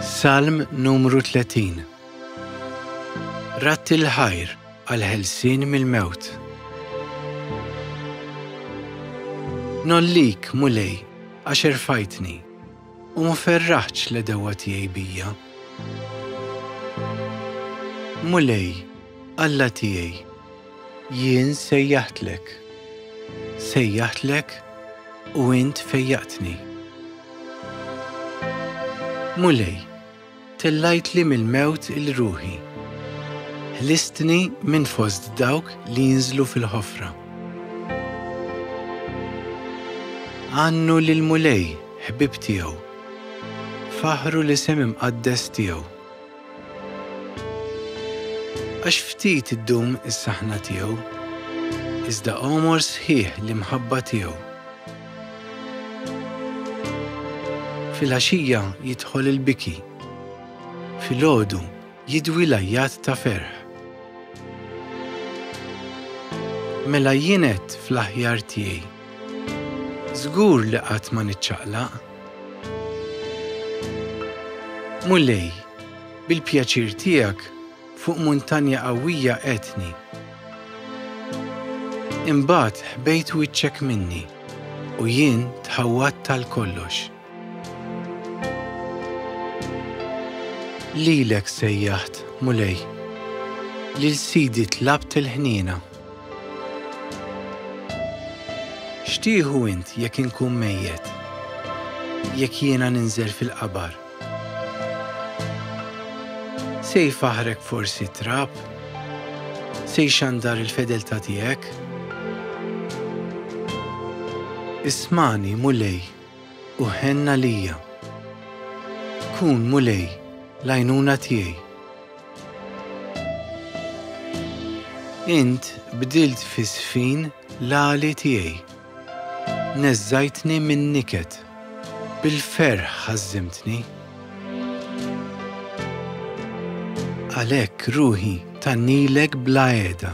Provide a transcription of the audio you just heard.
Salm numru 30 Ratti l-ħajr għal-ħelsin mill-mewt. Nollik, mulej, għax irfajtni, u muferraħċ li dewa tiegħi bija. Mulej, Alla tiegħi, Jien sejjaħtlek, sejjaħtlek u int fejjaqtni. Mulej, tellajtli mill-mewt il-ruħi, ħlistni minn fost dawk li jinżlu fil-ħofra. Għannu lill-Mulej, ħbieb tiegħu, faħħru l-isem imqaddes tiegħu. Għax ftit iddum is-saħna tiegħu, iżda għomor sħiħ l-imħabba tiegħu. Fil-għaxija jidħol il-biki, fil-ħodu jidwi lajjat ta' ferħ. Mela jienet fl-aħjar tiegħi, żgur li qatt ma niċċaqlaq, Mulej, bil-pjaċir tiegħek fuq muntanja qawwija qegħdtni. Imbagħad ħbejt wiċċek minni u jien tħawwadt għal kollox. Lilek sejjaħt, Mulej, lil Sidi tlabt il-ħniena. X'tieħu int jekk inkun mejjet? Jekk jiena ninżel fil-qabar? Se jfaħħrek forsi t-trab? Se jxandar il-fedeltà tiegħek? Ismagħni, Mulej, u ħenn għalija. Kun, Mulej, l-għajnuna tiegħi. Int bdilt f'għisfin l-għali tiegħi. Neżżajtni min-niket. Bil-ferħ ħażżimtni. Għalhekk ruħi thannilek bla għeda.